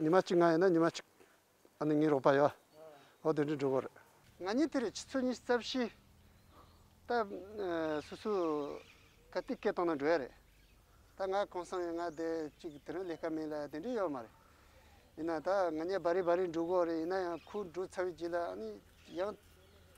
ཉི་མ་གཅིག་ང་ཡོད་ན་ཉི་མ་གཅིག་ཨ་ནི་ངའི་རོགས་པ་ཡོད། ཨོ་དེ་འདྲའི་འགྲོ་གི་རེད། ང་གཉིས་དེ་རེད་ཕྱི་ཚུལ་གཉིས་རྩ་བཞི། ད་སུ་སུ་ག་དུས་སྐད་གཏོང་ན་འགྲོ་ཡ་རེད། ད་ང་གང་སང་ཡོད་ང་བསྡད་ཅིག་དེ་རིང་ལས་ཀ་མེད་ལ་དེ་འདྲའི་ཡོད་མ་རེད། ཡིན་ན་ད་ང་གཉིས་སྦ་རི་སྦ་རི་འགྲོ་གི་རེད་ཡིན་ན་ཡང་ཁོའི་འགྲོ་ཚར་བའི་རྗེས་ལ་ཨ་ནི་ཡང།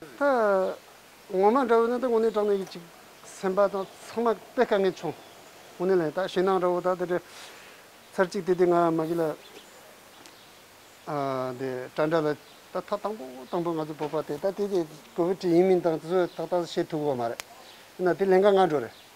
ད་ངོ་མ་འདྲ་བོ་ན་ད་ངོ་ནས་དྲང་ནས་ཡོད་ཅིག་སེམས་པ་དང་ཚང་མ་དཔེ་དཀའ་ངལ་བྱུང་ངོ་ནས་ལན་ད་ཞེད་སྣང་འདྲ་བོ་ད་དེ་འདྲ་ཚར་གཅིག་དེ་དེ་ང་མ་གི་ལ་དེ་དྲ་འདྲ་ལ་ད་མཐའ་དང་པོ་དང་པོ་ང་ཚོ་བོད་པ་དེ་ད་དེ་དེ་གོ་བོད་དྲི་ཡིན་མིན་དང་ཚོད་ད་ད་བཤད་ཐུབ་བོ་མ་རེད་ཡིན་ན་དེ་ལན་ཁ་ང་འགྲོ་རེད།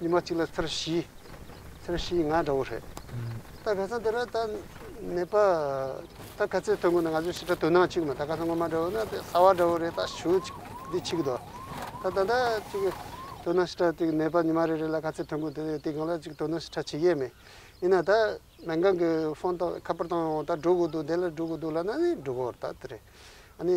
ཉི་མ་གཅིག་ལ་ཚར་བཞི་ཚར་བཞི་ཡིན་ང་འདྲ་བོ་རེད། ད་ག་ཚང་འདི་ར་ད་ནད་པ་ད་ག་ཚད་ཐོན་གོ་ན་ང་ཚོས་ཤི་ཁྲ་དོ་སྣང་གཅིག་མ་ད་ག་ཚང་ངོ་མ་འདྲ་བོ་ན་དེ་ས་བ་འདྲ་བོ་རེད་ད་ཞུ་འདི་ཆིག་དོ་ད་ད་ད་ཅིག་དོ་སྣང་ཤི་ཁྲ་དེ་ནད་པ་ཉི་མ་རེ་རེ་ལ་ག་ཚད་ཐོན་གོ་དེ་དེ་གང་ལ་ཅིག་དོ་སྣང་ཤི་ཁྲ་བྱེད་ཀྱི་མེད་ཡིན་ན་ད་མལ་ཁང་གི་ཧྥོན་ད་ཁ་པར་ད་འོང་ད་འགྲོ་གོ་འདུག་དེ་ལ་འགྲོ་གོ་འདུག་ལ་ན་ནི་འགྲོ་གོ་ར་ད་དེ་རེད་ཨ་ནི།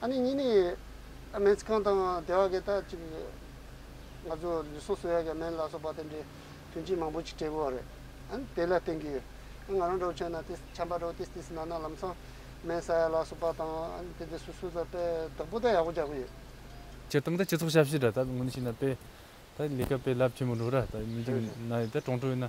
ཨ་ནེ་གཉིས་ནི་སྨན་ཁང་དང་སྡེ་བ་གི་ད་ཅིག་ང་ཚོ་ལུས་ཟུངས་གསོ་ཡ་གི་སྨན་ལ་སོགས་པ་དེ་འདྲའི་དོན་ཆེན་མང་པོ་ཅིག་སྤྲད་པོ་རེད་ཨ་ནི་དེ་ལ་བརྟེན་གི་ང་རང་གྲོགས་ཆེན་ན་ཏི་ཆམ་པ་རོ་ཏི་སི་སི་ན་ན་ལམ་སང་སྨན་ཟ་ཡ་ལ་སོགས་པ་དང་ཨ་ནི་དེ་འདྲའི་སུ་སུ་ཟ་དཔེ་བདག་པོ་ད་ཡག་པོ་རྒྱག་གི་ཡོད། སྤྱིར་བཏང་ད་སྤྱི་ཚོགས་ཞབས་ཕྱི་དྲ་ད་དངོས་ནས་བྱས་ན་དཔེ་ད་ལས་ཀ་དཔེ་རླབས་ཆེན་པོ་འགྲོ་ར་ད་མི་འགྱུར་ན་ཡིན་ད་གྲོང་ཁྲོད་ན་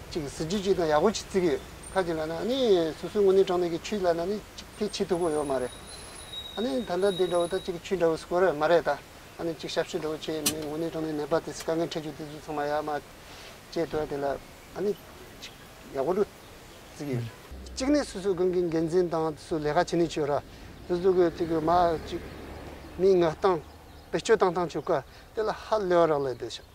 གཅིག་གིས་གཟི་བརྗིད་ཅིག་དང་ཡག་པོ་ཅིག་བརྩིགས་ཡོད་ཁ་ཅིག་ལ་ན་ནི་སོ་སོའི་དངོས་གནས་གྲོང་སྡེ་གི་ཆུའི་ལ་ན་ནི་གཅིག་ཕལ་ཆེ་མཐུག་པོ་ཡོད་མ་རེད་ཨ་ནི་ད་ལྟ་འདི་འདྲ་བོ་དང་གཅིག་གི་ཆུ་འདྲ་བོ་སྐོར་ཡོད་མ་རེད་ད་ཨ་ནི་གཅིག་ཞབས་ཞུ་འདྲ་བོ་བྱས་ཡོད་མི་དངོས་གནས་གྲོང་སྡེ་ནད་པ་དེ་དཀའ་ངལ་འཕྲད་རྒྱུ་དེ་ཚོ་ཚང་མ་ཡག་མ་བཅས་དོ་དེ་ལ་ཨ་ནི་གཅིག་ཡག་པོ་འགྲོ་བརྩིགས་ཡོད། གཅིག་ནི་སོ་སོའི་དགོན་གྱི་འགན་འཛིན་དང་དེ་ཚོས་ལས་ཀ་བྱེད་ནུས་ཆེ་ར་དེ་ཚོ་གི་ཚིག་གི་མ་གཅིག་མིའི་ངག་སྟངས་བེད་སྤྱོད་བཏང་སྟངས་ཆུ་ཀ་དེ་ལ་ཧ་ལས་བ་རག་ལས་དེ་ཞག་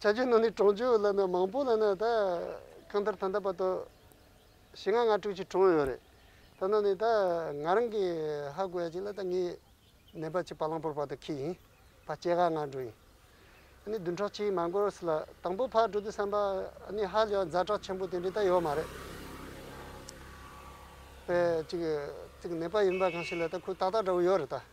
བྱ་རྒྱུ་ནང་ནས་གྲོང་ཆོག་ལ་ནི་མང་པོ་ལ་ནི་ད་གང་ལྟར་ད་ལྟ་བར་དུ་ཞེ་ལྔ་ལྔ་དྲུག་ཅིག་གྲོངས་ཡོད་རེད། ད་ནང་ནས་ད་ང་རང་གི་ཧ་གོ་ཡ་གཅིག་ལ་ད་ངའི་ནད་པ་གཅིག་བ་ལང་པོར་བར་དུ་ཁྱི་ཡིན་བ་སྐྱེ་ག་ང་འགྲོ་ཡིན། ཨ་ནི་བདུན་ཕྲག་གཅིག་མ་འགོར་སི་ལ་དང་པོ་ཕར་འགྲོ་དུས་བསམ་པ་ཨ་ནི་ཧ་ལས་ཡང་འཛའ་དྲག་ཆེན་པོ་དེ་འདྲའི་ད་ཡོད་མ་རེད། པའི་གཅིག་གི་ནད་པ་ཡིན་པ་གང་ཞིག་ལ་ད་ཁོའི་ཏག་ཏག་འདྲ་བོ་ཡོད་རེད་ད།